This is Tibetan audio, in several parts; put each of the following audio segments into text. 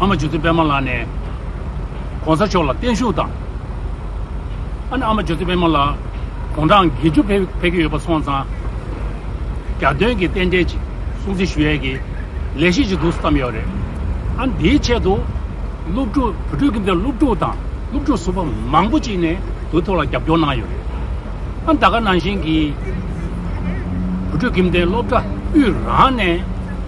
ཨ་མ་ཇོ་ཚེ་པད་མ་ལགས་ནས ྋགོང་ས་མཆོག་ལ་བརྟན་བཞུགས་དང། ཨ་ནེ་ཨ་མ་ཇོ་ཚེ་པད་མ་ལགས་དགུང་གྲངས་དགེ་བཅུ་ཕེབས་ཀྱི་ཡོད་པ་སོང་ཙང་རྒྱ་སྟོན་གྱི་རྟེན་འབྲེལ་ཅིག་སྲུང་བརྩི་ཞུ་ཡས་ཀྱི་ལས་གཞི་ཅིག་འདུག་བསམ་ཡོད་རེད། ཨ་ནེ་དེའི་ཆེད་དུ་སློབ་ཕྲུག་བུ་ཕྲུག་གི་མདུན་སློབ་ཕྲུག་དང་སློབ་ཕྲུག་ཟུར་པ་མང་པོ་ཅིག་ནས་དུས་ཐོག་ལ་རྒྱབ་སྐྱོར་གནང་ཡོད་རེད། ཨ་ནེ་ད་ག་ནང་བཞིན་གྱི་བུ་ཕྲུག་གི་མདུན་སློབ་གྲྭ་དབུས་རང་ནས།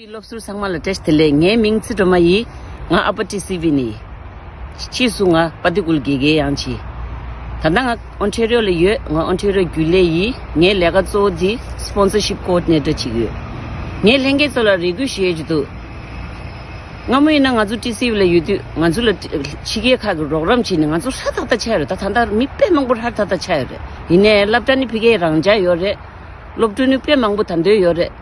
པའི་སློབ་ཟུར་ཚང་མ་ལ་བཀྲལ། དེ་ལས་ངའི་མིང་ཚིག་སྒྲོལ་མ་ཡིན། ང་ཨ་པ་ཏི་སི་བྷི་ནི་ཡིན། ཕྱིས་སུ་ང་པ་ཏི་ཀུལ་གེ་གེ་ཡང་བྱས། ད་ལྟ་ང་ཨོན་ཁྲེ་རོལ་ལ་ཡོད། ང་ཨོན་ཁྲེ་རོལ་རྒྱུན་ལས་ཡིན། ངའི་ལས་ཀ་གཙོ་བོ་དེ Sponsorship Coordinator ཅིག་ཡོད། ངས་ལྷན་རྒྱས་ཚོ་ལ་རེ་སྐུལ་བྱེད་ཀྱི་འདུག་སྔ་མོ་ཡིན་ན་ང་ཚོ་ཏི་སི་བྷི་ལ་ཡོད་དུས་ང་ཚོ་ལ་ཕྱི་རྒྱལ་ཁག་གི་རོགས་རམ་བྱས་ནས་ང་ཚོ་ཧྲ་ཐག་ཐག་ཆགས་ཡོད་རེད་ད་ད་ལྟ་མི་དཔེ་མང་པོ་ཧྲ་ཐག་ཐག་ཆགས་ཡོད་རེད། ཡིན་ནས་སླབ་གྲྭ་ནི་ཕི་གའི་རང་འཇགས་ཡོད་རེད། སློབ་ཕྲུག་ནི་དཔེ་མང་པོ་ད་འདོད་ཡོད་རེད།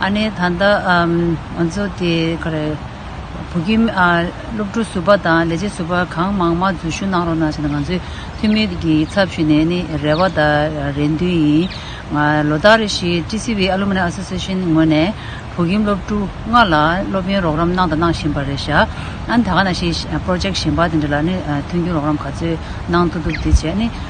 ཨ་ནེ་ད་ལྟ་ང་ཚོ་དེ་ག་རེ། བོད་ཀྱི་སློབ་ཕྲུག་ཟུར་པ་དང་ལས་བྱེད་ཟུར་པ་གང་མང་མང་འཛུལ་ཞུགས་གནང་རོགས་གནང་བྱས་ན་ང་ཚོའི་འཐུས་མི་གི་ཚབ་ཞུས་ནས་ནི་རེ་བ་དང་རེ་འདུན་ཡིན། ང་ལོ་ཟླ་རེ་བཞིན་ཀྲི་སི་བྷི་ཨ་ལུ་མི་ནེ་ཨ་སོ་སི་ཤིན་ངོས་ནས་བོད་ཁྱིམ་སློབ་ཕྲུག་ལྔ་ལ་སློབ་ཡོན་རོགས་རམ་གནང་དང་གནང་བཞིན་པ་རེད་ཤག་ཨ་ནེ་ད་ག་ན་ཤི་པརོ་ཇེཀ་གཞན་པ་དེ་འདྲ་ལ་ནི་མཐུན་རྒྱུ་རོགས་རམ་ག་ཚོད་གནང་ཐུབ་ཐུབ་དེ་བྱས་ནི།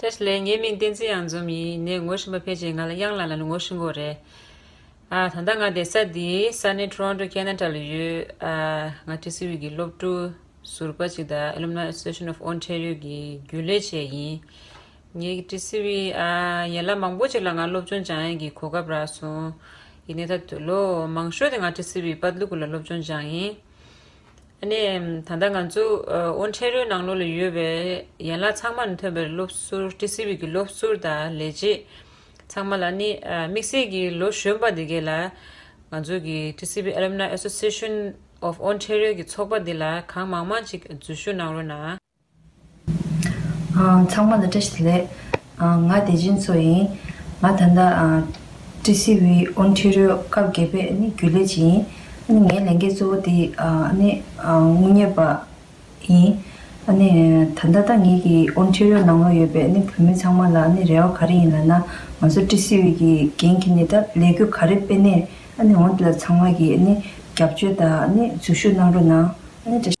ཏྲེ་ཞི་ལའི་ངའི་མིང་བསྟན་འཛིན་གཡང་འཛོམས་ཡིན་ནས་ངོ་ཤེས་པ་ཕལ་ཆེར་ང་ལ་གཡང་ལ་ལ་ནི་ངོ་ཤེས་མགོ་རེད། ད་ལྟ་ང་བསྡད་ས་འདི་ས་གནས Toronto Canada ལ་ཡོད། ང་ཏྲེ་སི་ཝི་གི་སློབ་ཕྲུག་ཟུར་པ་ཅིག་དང Alumni Association of Ontario གི་རྒྱུན་ལས་བྱེད་ཡིན། ངས་ཏྲེ་སི་ཝི་ཡན་ལག་མང་པོ་ཅིག་ལ་ང་སློབ་སྦྱོང་སྦྱང་ཡན་གྱི་གོ་སྐབས་རག་སོང། ཡིན་ནས་ད་ལོ་མང་ཤོས་དེ་ང་ཏྲེ་སི་ཝི་པཱ་ཏླུ་ཀུ་ལ་སློབ་སྦྱོང་སྦྱང་ཡིན། ནས། ད་ལྟ་ང་ཚོ་ཨོ་ཕྲེ་རོའི་ནང་ལོགས་ལ་ཡོད་པའི་ཡན་ལག་ཚང་མ་ནས་ཐོན་པའི་སློབ་ཟུར་ཀྲི་སི་བིག་གི་སློབ་ཟུར་དང་ལས་བྱེད་ཚང་མ་ལ་ནི་དམིགས་བསལ་གྱིས་ལོ་གཞོན་པ་འདི་གའི་ལ། ང་ཚོ་གི་ཀྲི་སི་བི་ཨལོམ་ནའི་ཨེ་སོ་སི་ཨེ་ཤོན་ཨོབ་ཨོ་ཕྲེ་རོའི་གི་ཚོགས་པ་འདི་ལ་གང་མང་མང་ཅིག་འཛུལ་ཞུགས་གནང་རོགས་གནང། ཚང་མ་ལ་བཀྲ་ཤིས་བདེ་ལེགས། ང་བདེ་ཆེན་མཚོ་ཡིན། ང་ད་ལྟ། ཀྲི་སི་ཝི། Ontario། སྐབས་བརྒྱད་པའི་ནི་རྒྱུན་ལས་བྱེད་ཡིན། ངའི་ལས་འགན་གཙོ་བོ་དེ་ནི། དངུལ་གཉེར་པ། ཡིན། ད་ལྟ་ད་ངེད་ཀྱི Ontario ནང་ལོགས་ཡོད་པའི་བོད་མི་ཚང་མ་ལ་ནི་རེ་བ་ག་རེ་ཡིན་ལ་ན། ང་ཚོ་ཀྲི་སི་ཝི་ཀྱི་འགན་གྱི་ནི་ད་ལས་སྒོ་ག་རེ་སྤེལ་ནས་ཨ་ནི་འོང་དེ་ལ་ཚང་མ་གྱི་ནི་རྒྱབ་སྐྱོད་དང་ནི་འཛུལ་ཞུགས་གནང་རོགས་གནང། བཀྲ་ཤིས།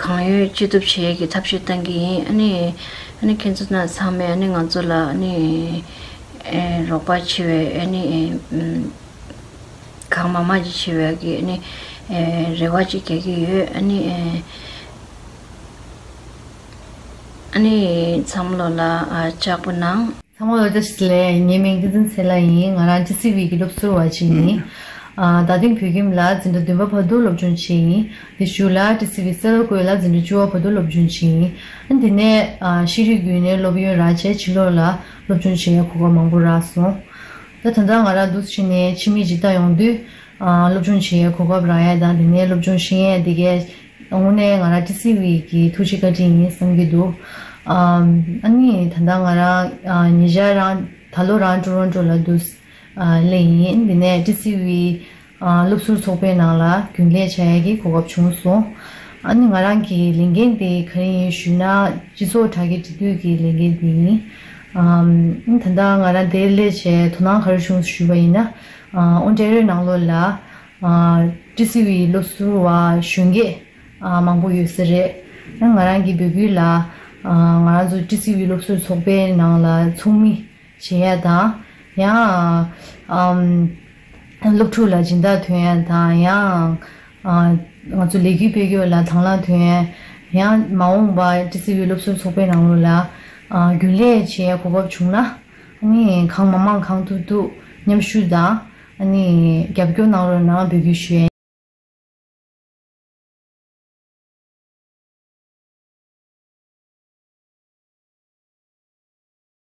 གང་ཡོད་ཅི་ཐུབ་བྱེད་ཀྱི་ཐབས་ཤེས་བཏང་གི་ཡིན། ཨཱ་ནི། ཁྱེད་ཚོ་རྣམས་ཚང་མས་ཨཱ་ནི་ང་ཚོ་ལ་ཨཱ་ནི། རོགས་པ་བྱེད་པའི་ཨཱ་ནི། གང་མང་མང་ཅིག་བྱེད་པའི་ཨཱ་ནི། རེ་བ་ཅིག་རྒྱག་གི་ཡོད་ཨཱ་ནི། ཨཱ་ནི། འཚམས་བློ་ལ་ལྕགས་པོ་གནང། འཚམས་བློ་ལ་ལྕགས་བྱེད་ལས། ངའི་མིང་བསྟན་འཛིན་ཚེ་ལ་ཡིན། ང་རང་ཅི་སི་ཝི་ཡི་སློབ་ཟུར་བ་ཅིག་ཡིན། ད་ཐེངས་བོད་ཁྱིམ་ལ་འཛིན་གྲྭ་བདུན་པ་བར་དུ་སློབ་སྦྱོང་བྱས་ཡིན། དེ་ཞུ་ལ་ཏི་སི་བི་སེ་ལོ་ཀོས་ལ་འཛིན་གྲྭ་བཅུ་བ་བོད་དུ་སློབ་སྦྱོང་བྱིན། དེ་ནས་ཤེས་རིག་བརྒྱུད་ནས་སློབ་ཡོན་རག་རྗེས་ཕྱི་ལོགས་ལ་སློབ་སྦྱོང་བྱེད་ཡ་གོ་བ་མང་པོ་རག་སོང། ད་ད་ང་རག་འདུག་ཕྱི་ནས་ཕྱི་མིག་ཅིག་ལྟ་ཡོང་དུས། སློབ་སྦྱོང་བྱེད་ཡའི་གོ་སྐབས་རག་ཡ་དང་དེ་ནས་སློབ་སྦྱོང་ཤེས་ཡས་དེ་གས་དངོས་གནས་ང་རག་ཏི་སི་བི་གི་ཐུགས་རྗེ་བཀའ་དྲིན་ཡིན་བསམ་གྱི་འདུག། ཨཱ་ནི་ད་ད་ང་རང་ཉེ་ཆར་རང་ད་ལོ་རང་ཀྲུ་རོན་ཀྲོ་ལ་འདུག་སླེ་ཡིན་དེ་ནས་ཏི་སི་བི། སློབ་ཟུར་ཚོགས་པའི་ནང་ལ་རྒྱུན་ལས་བྱ་ཡ་གི་གོ་སྐབས་བྱུང་སོང། ཨ་ནི་ང་རང་གི་ལས་འགན་དེ་ག་རེ་ཡིན་ཞུས་ན་སྤྱི་ཚོགས་དྲ་རྒྱ་སྒྲིག་འཛུགས་ཀྱི་ལས་འགན་དེ་ཡིན། ཨ་ནི་ད་ལྟ་ང་རང་དེར་སླེབས་ཆེད་དོ་སྣང་ག་རེ་བྱུང་ཞུས་པ་ཡིན་ན། ཨོ་ཏྲེ་རོའི་ནང་ལོགས་ལ་ཀྲི་སི་ཝིའི་སློབ་ཟུར་བ་གཞོན་སྐྱེས་མང་པོ་ཡོད་ས་རེད། ང་རང་གི་འབོད་སྐུལ་ལ་ང་རང་ཚོ་ཀྲི་སི་ཝིའི་སློབ་ཟུར་ཚོགས་པའི་ནང་ལ་ཚོགས་མི་བྱེད་ཡ་དང། ཡང། སློབ་ཕྲུག་ལ་སྦྱིན་བདག་དུས་ཡན་དང། ཡང། ང་ཚོ་ལས་རྒྱུ་སྤེལ་རྒྱུ་ལ་དང་བླངས་དུས་ཡན། ཡང། མ་འོངས་པ་ཀྲི་སི་བྷི་སློབ་གསོའི་ཚོགས་པའི་ནང་ལོགས་ལ། རྒྱུན་ལས་བྱེད་ཡ་གོ་བབ་བྱུང་ན། ཨཱ་ནི། གང་མ་མང་གང་ཐུབ་ཐུབ་མཉམ་ཞུགས་དང། ཨཱ་ནི། རྒྱབ་སྐྱོར་གནང་རོགས་གནང་འབོད་སྐུལ་ཞུ་ཡན།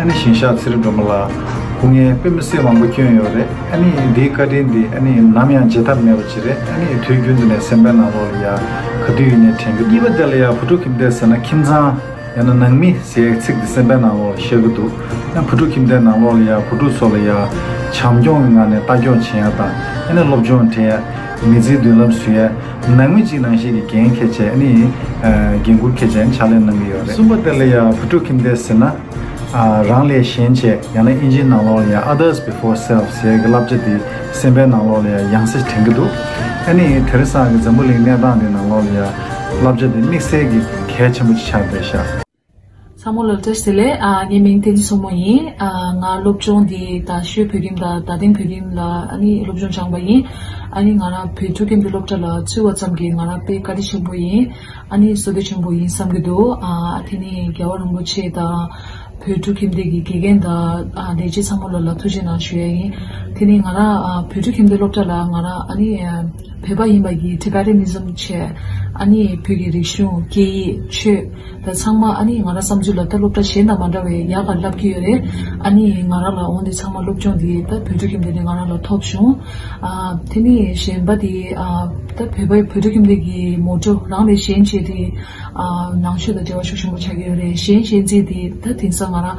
ཨ་ནི་ཞིང་ཤག་ཚེ་རིང་སྒྲོལ་མ་ལགས་སྐུ་ངལ་དཔེ་མི་སྲིད་མང་པོ་བསྐྱོན་ཡོད་རེད་ཨ་ནི་འདིའི་བཀའ་དྲིན་འདི་ཨ་ནི་ནམ་ཡང་བརྗེད་ཐབས་མེད་པ་ཅིག་རེད་ཨ་ནི་དུས་རྒྱུན་དུ་ནས་སེམས་པའི་ནང་ལོགས་ལ་ཡང་ག་དུས་ཡིན་ནས་དྲན་གྱི་འདུག་གཉིས་པ་དེ་ལ་ཡང་བུ་ཕྲུག་ཁྱིམ་སྡེ་ཟེར་ན་ཁྱིམ་ཚང་ཡང་ན་ནང་མི་ཟེར་ཡའི་ཚིག་འདི་སེམས་པའི་ནང་ལོགས་ལ་ཤར་གྱི་འདུག་ཡང་བུ་ཕྲུག་ཁྱིམ་སྡེའི་ནང་ལོགས་ལ་ཡང་བུ་ཕྲུག་ཚོ་ལ་ཡང་བྱམས་སྐྱོང་གི་ངང་ནས་ལྟ་སྐྱོང་བྱེད་ཡ་དང་ཡ་ནི་སློབ་སྦྱོང་དྲན་ཡ། མི་ཚེའི་མདུན་ལམ་བཟུང་ཡ། ནང་མི་གཅིག་ནང་ཞིག་གི་འགན་ཁེ་ཆེ་ནི། འགན་ཁུར་ཁེ་ཆེ་ཕྱག་ལས་གནང་གི་ཡོད་རེད། གསུམ་པ་དེ་ལ་ཡང་བུ་ཕྲུག་ཁྱིམ་སྡེ་ཟེར་ན། རང་ལས་གཞན་བྱས་ཡང་ན་དབྱིན་ཇིའི་ནང་ལོགས་ལ་ཡང others before self ཟེར་གི་བསླབ་བྱ་དེ་སེམས་པའི་ནང་ལོགས་ལ་ཡང་ཡང་སེ་དྲན་གི་འདུག་ཨ་ནི་དེར་སང་གི་འཛམ་བུ་གླིང་གནས་སྟངས་འདི་ནང་ལོགས་ལ་ཡང་བསླབ་བྱ་དེ་དམིགས་བསལ་གྱི་གལ་ཆེན་པོ་ཅིག་ཆགས་བསྡད་ཤག། བསམ་བློ་ལོ་ཙཱ་ཟེར་ལས་ངའི་མིང་བསྟན་འཛིན་སོག་མོ་ཡིན། ང་སློབ་སྦྱོང་འདི་ད་ཤོད་བོད་རིམ་དང་ད་ཐེངས་བོད་རིམ་ལ་སློབ་སྦྱོང་སྦྱངས་པ་ཡིན། ང་རང་བོད་ཕྲུག་གན་དུ་སློབ་གྲྭ་ལ་ཚུད་བ་ཙམ་གྱིས་ང་རང་དཔེ་བཀའ་དྲིན་ཆེན་པོ་ཡིན། བསོད་བདེ་ཆེན་པོ་ཡིན་བསམ་གྱི་འདུག་དེ་ནི་རྒྱལ་བ་རིན་པོ་ཆེ་དང། བོད་ཕྲུག་ཁྱིམ་སྡེ་གྱི་དགེ་རྒན་དང་ལས་བྱེད་ཚང་མ་ལ་ཐུགས་རྗེ་ནང་ཞུ་ཡ་ཡིན། དེ་ནི་ང་རང་བོད་ཕྲུག་ཁྱིམ་སྡེ་སློབ་གྲྭ་ལ་ང་རང་བོད་པ་ཡིན་པ་གྱི Tibetanism བྱས། བོད་ཀྱི་རིག་གཞུང་སྐད་ཡིག་ཆོས། ཚང་མ་ཨ་ནེས་ང་རང་བསམ་ཚུལ་ལ་ད་སློབ་གྲྭ་གཞན་དང་མ་འདྲ་བའི་ཡག་པར་ལབ་ཀྱི་ཡོད་རེད། ཨ་ནེས་ང་རང་ལ་འོང་དུས་ཚང་མ་སློབ་སྦྱོང་འདི་ད་བོད་ཕྲུག་ཁྱིམ་སྡེ་ནས་ང་རང་ལ་ཐོབ་བྱུང། དེ་ནས་གཞན་པ་དེ་ད་བོད་པའི་བོད་ཕྲུག་ཁྱིམ་སྡེ་གི་མོ་ཏྲོ་རང་ལས་གཞན་བྱས་ཏེ། ནང་ཆོས་དང་འབྲེལ་བ་ཤུགས་ཆེན་པོ་ཆགས་ཀྱི་ཡོད་རེད་གཞན་གཞན་རྩིས་དེ་ད་དེང་སང་ང་རང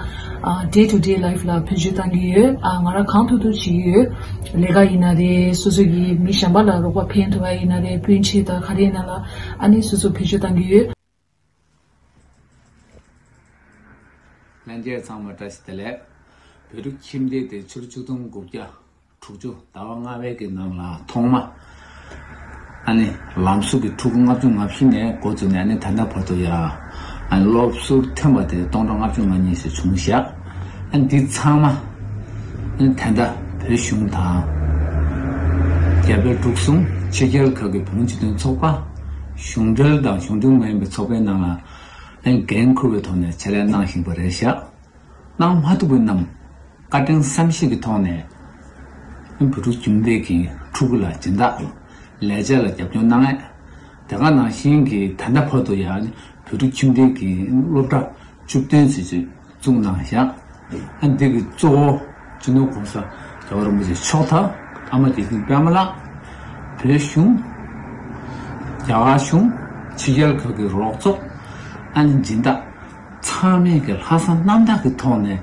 Day to Day Life ལ་ཕན་ཞུ་བཏང་གི་ཡོད། ང་རང་གང་ཐུབ་ཐུབ་བྱེད་ཀྱི་ཡོད། ལས་ཀ་ཡིན་ན་རེད་སོ་སོ་ཡི་མི་གཞན་པ་ལ་རོགས་པ་ཕན་ཐོགས་པ་ཡིན་ན་རེད་སྤུན་མཆེད་དང་ག་རེ་ཡིན་ན་ལ་ཨ་ནེས་སོ་སོ་ཕན་ཞུ་བཏང་གི་ཡོད། ལྷན་རྒྱས་ཚང་མ་བཀྲ་ཤིས་བདེ་ལེགས། བོད་རིགས་ཁྱིམ་སྡེ་དེ་ཕྱི་ལོ་བཅུ་སྟོང་དགུ་བརྒྱ་དྲུག་ཅུ་ཟླ་བ་ལྔ་བའི་གི་ནང་ལ་ཐོག་མ་ཨ་ནི་ལམ་ཟུར་གི་ཕྲུ་གུ་ལྔ་བཅུ་ང་བཞི་ནས་འགོ་བཙུགས་ནས་ཨ་ནི་ད་ལྟ་བར་དུ་ཡ་ཨ་ནི་སློབ་ཟུར་ཐོན་པ་དེ་སྟོང་དང་ལྔ་བཅུ་ང་གཉིས་སུ་བྱུང་ཞག་འདི་ཚང་མ་ཐད་མདའ་བོད་གཞུང་དང། རྒྱ་བལ་འབྲུག་གསུམ་ཕྱི་རྒྱལ་ཁག་གི་བོད་མི་སྤྱི་མཐུན་ཚོགས་པ། གཞུང་འབྲེལ་དང་གཞུང་འབྲེལ་མ་ཡིན་པའི་ཚོགས་པའི་ནང་ལ་འགན་འཁུར་བའི་ཐོག་ནས་བྱེད་ལས་གནང་བཞིན་པ་རེད་ཤག། གནང་མ་ཐུབ་པ་རྣམས་བཀའ་དྲིན་བསམ་ཤེས་ཀྱི་ཐོག་ནས་བོད་ཕྲུག་ཁྱིམ་སྡེ་གྱི་ཕྲུ་གུ་ལ་སྦྱིན་བདག་ལས་བྱེད་ལ་རྒྱབ་སྐྱོར་གནང་ཨེ། དེ་ག་ནང་བཞིན་གྱི་ད་ལྟ་བར་དུ་ཡང་བོད་ཕྲུག་ཁྱིམ་སྡེ་གྱི་སློབ་གྲྭ་བཅུ་བདུན་ཚུད་ཚུད། གཙུག་ན་བཞག། ཨ་འདི་གི་གཙོ་བོ་སྤྱི་ནོར་གོང་ས་རྒྱལ་བ་རིན་པོ་ཆེ་མཆོག་དང་ཨ་མ་དགེ་འདུན་པདྨ་ལགས། བོད་གཞུང། རྒྱ་གར་གཞུང། ཕྱི་རྒྱལ་ཁག་གི་རོགས་ཚོགས། ཨ་ནེ་སྦྱིན་བདག། ཚང་མས་ཀྱི་ལྷག་བསམ་རྣམ་དག་གི་ཐོག་ནས།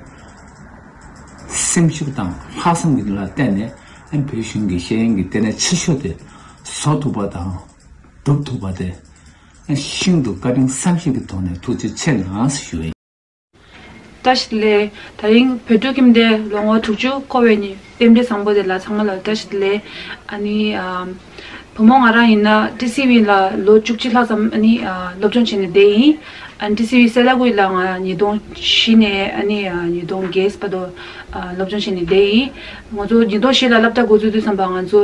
སེམས་ཤུགས་དང་ལྷག་བསམ་གྱི་ལ་བརྟེན་ནས་ཨ་བོད་གཞུང་གི་ཤེས་ཡོན་གྱི་ལྟེ་གནས་ཆེ་ཤོས་དེ་བཟོ་ཐུབ་པ་དང་སྒྲུབ་ཐུབ་པ་དེ། ཨ་ཤིན་ཏུ་བཀའ་དྲིན་བསམ་ཤེས་ཀྱི་ཐོག་ནས་ཐུགས་རྗེ་ཆེ་ནས་ཞུ། བཀྲ་ཤིས་ལེ། ད་རིང་བོད་ཕྲུག་ཁྱིམ་སྡེ་ལོ་ངོ་དྲུག་ཅུ་འཁོར་བའི་ནི་དཔེ་འབྲི་བཟང་པོ་དེ་ལ་ཚང་མ་ལ་བཀྲ་ཤིས་ལེ། ཨཱ་ནི། བུ་མོ་ང་རང་ཡིན་ན་ཀྲི་སི་ཝིན་ལ་ལོ་བཅུ་གཅིག་ལྷག་ཙམ་ཨཱ་ནི་སློབ་སྦྱོང་བྱས་ནས་བསྡད་ཡིན། ཨཱ་ནི་ཀྲི་སི་ཝི་སེ་ལ་ཀུའི་ལ་ང་ཉིས་སྟོང་བཞི་ནས་ཨཱ་ནི་ཉིས་སྟོང་བརྒྱད་སྤ་ཏོ་སློབ་སྦྱོང་བྱས་ནས་བསྡད་ཡིན། ངོ་ཚོ་ཉིས་སྟོང་བཞི་ལ་བསླབ་གྲྭ་འགོ་འཛུགས་དུས་བསམ་པ་ང་ཚོ།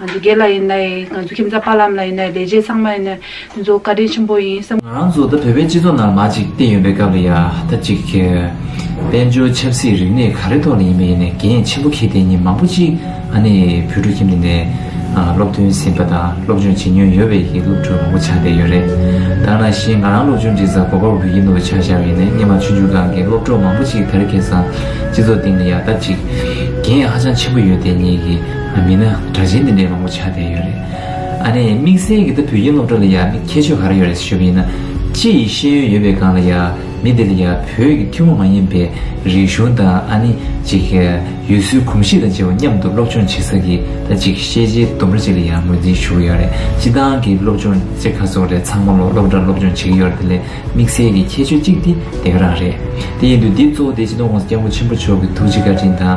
ང་ཚོ་སྒེར་ལ་ཡིན་ན་ཡིན་ང་ཚོ་ཁྱིམ་བདག་དཔའ་ལམ་ལ་ཡིན་ན་ལས་བྱེད་ཚང་མ་ཡིན་ན་དེ་ཚོ་བཀའ་དྲིན་ཆེན་པོ་ཡིན་བསམ། ང་རང་ཚོ་ད་བོད་པའི་སྤྱི་ཚོགས་ནང་མ་ཅིག་བསྟན་ཡོད་པའི་སྐབས་ལ་ཡ་ད་ཅིག་དཔལ་འབྱོར་ཆབ་སྲིད་རིག་གནས་ག་རེ་ཐོག་ལ་ཡིན་པ་ཡིན་ནས་འགན་ཆེན་པོ་ཁེལ་དེ་ཉིན་མང་པོ་ཅིག་ཨ་ནེ་བོད་ཕྲུག་ཁྱིམ་དེ་ནས་སློབ་ཐོན་ཟིན་པ་དང་སློབ་སྦྱོང་བྱེད་མྱོང་ཡོད་པའི་ཡི་གེ་སློབ་ཕྲུག་མང་པོ་ཆགས་བསྡད་ཡོད་རེད་དཱ་ང་ཤེས་ང་རང་སློབ་སྦྱོང་འབྲི་ས་གོ་པ་བོད་ཡིག་ནོར་བུ་ཆགས་བཞག་ཡིན་ནས་སྙེ་མ་ཆུང་ཆུང་སྒང་གི་སློབ་གྲོགས་མང་པོ་ཅིག་དར་གེ་སང་སྤྱི་ཚོགས་སྟེང་ལ་ཡ་ད་ཅིག་འགན་ཧ་ཅང་ཆེན་པོ་ཡོད་དེ་ཉིད་ཀྱི། མིན་ན་དྲ་མཆན་འདི་འདྲའི་མང་པོ་ཆགས་བསྡད་ཡོད་རེད། ཨ་ནེ། དམིགས་བསལ་གྱིས་ད་བོད་ཡིག་སློབ་གྲྭ་ལ་ཡག་མི་ཁྱད་ཆོས་ག་རེ་ཡོད་རེད་ཞུ་བ་ཡིན་ན། ཅི་ཡི་ཤེས་ཡོན་ཡོད་པའི་སྒང་ལ་ཡག་མི་འདི་ལ་ཡག་བོད་ཀྱི་ཐུན་མོང་མ་ཡིན་པའི་རིག་གཞུང་དང་ཨ་ནེ། ཅིག་ཡུལ་སྲོལ་གོམས་གཤིས་དང་བཅས་པ་མཉམ་དུ་སློབ་སྦྱོང་བྱེད་ས་ཀྱི་ད་ཅིག་ཤེས་བྱའི་ལྡུམ་ར་ཅིག་ལ་ཡག་ངོས་འཛིན་ཞུ་གི་ཡོད་རེད་སྤྱི་བཏང་གི་སློབ་སྦྱོང་ཅེས་ཁ་སོགས་རེད་ཚང་མ་ལོ་སློབ་གྲྭར་སློབ་སྦྱོང་བྱེད་ཀྱི་ཡོད་རེད་དེ་ལས་དམིགས་བསལ་གྱི་ཁྱད་ཆོས་གཅིག་འདི་འདེགས་རང་རེད་དེ་ཡིན་དུས་འདི་གཙོ་བོ་དེ་སྤྱི་བཏང་ཁོངས་སུ་སྐྱབས་མགོན་ཆེན་པོ་མཆོག་གི་ཐུགས་རྗེ་བཀའ་དྲིན་དང།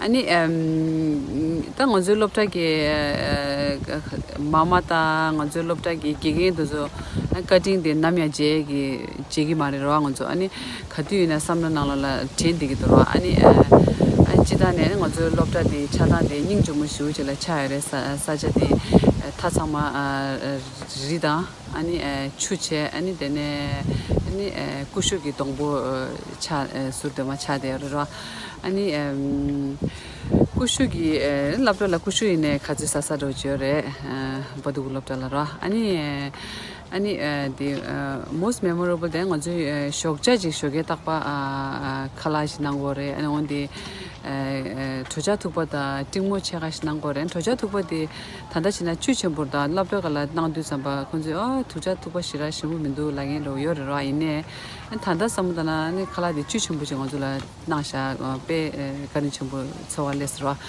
ཨ་ནི། ད་ང་ཚོའི་སློབ་གྲྭ་གི། མ་མ་དང་ང་ཚོའི་སློབ་གྲྭ་གི་དགེ་རྒན་དེ་ཚོ། བཀའ་དྲིན་དེ་ནམ་ཡང་བརྗེད་གི་བརྗེད་གི་མ་རེད་རོགས་ཨ་ང་ཚོ་ཨ་ནི། ག་དུས་ཡིན་ན་བསམ་བློ་ནང་ལ་ལ་དྲན་བསྡད་ཀྱི་འདུག་རོགས་ཨ་ཨ་ནི། སྤྱི་ཐ་ནས་ང་ཚོའི་སློབ་གྲྭ་དེ་ཆགས་སྟངས་དེ་སྙིང་ཇོ་མོ་ཞུ་བྱེད་ལ་ཆགས་ཡོད་རེད་ས་ཆ་དེ། ཐ་ཚང་མ། རི་དང། ཨ་ནི་ཆུ་བྱས་ཨ་ནི་དེ་ནས་ཨ་ནི་ཀུ་ཤུ་གི་སྡོང་པོ་ཆ་ཟུར་དེ་མ་ཆ་དེ་རེད་རོ། ཨ་ནི་ཀུ་ཤུ་གི་སློབ་གྲྭ་ལ་ཀུ་ཤུ་ཡིན་ནའི་ཁ་ཆེ་ས་ས་རོ་བྱོས་རེད་བ་འདུག་སློབ་གྲྭ་ལ་རོ། ཨ་ནི་ཨ་ནི་དེ most memorable དེ་ང་ཚོའི་ཞོགས་ཆ་ཅིག་ཞོ་གས་བཏགས་པ་ཁ་ལག་ཞིག་གནང་གོ་རེད་ཨ་ནི་འོན་ཏེ་གྲོ་ཆ་འཐུག་པ་དང་སྤྲིང་མོ་ཆེ་ཁ་ཞིག་གནང་གོ་རེད་གྲོ་ཆ་འཐུག་པ་དེ། ད་ལྟ་བྱས་ན་བཅུད་ཆེན་པོར་དང་བླ་བྲ་ག་ལ་གནང་བསྡུས་ཙམ་པ་ཁོང་ཚོས་ཨ་ཐུགས་ཅག་ཐུགས་པ་ཞི་རག་ཞིམ་པོ་མི་འདུག་ལ་ངན་རོགས་ཡོད་རེད་རོགས་ཡིན་ནས་ད་ལྟ་བསམ་བློ་བཏང་ན་ནི་ཁ་ལག་དེ་བཅུད་ཆེན་པོ་ཞིག་ང་ཚོ་ལ་གནང་བཞག་དཔེ་བཀའ་དྲིན་ཆེན་པོ་ཚོར་བ་ལེགས་སོ་རོགས་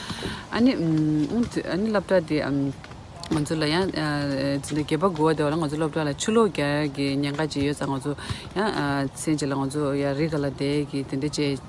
ཨ་ནི་ཨུང་ཐུགས་ཨ་ནི་བླ་བྲ་དེ་ང་ཚོ་ལ་ཡང་ཟིན་ན་གད་པ་འགུལ་བ་དེ་བ་ལ་ང་ཚོ་བླ་བྲ་ལ་ཆུ་ལོག་རྒྱག་གི་ཉེན་ཁ་ཅིག་ཡོད་ཙང་ང་ཚོ་ཡང་ཚེ་འཇིག་ལ་ང་ཚོ་ཡང་རི་ག་ལ་བསྡད་ཀྱི་དེ་འདྲ་བྱས།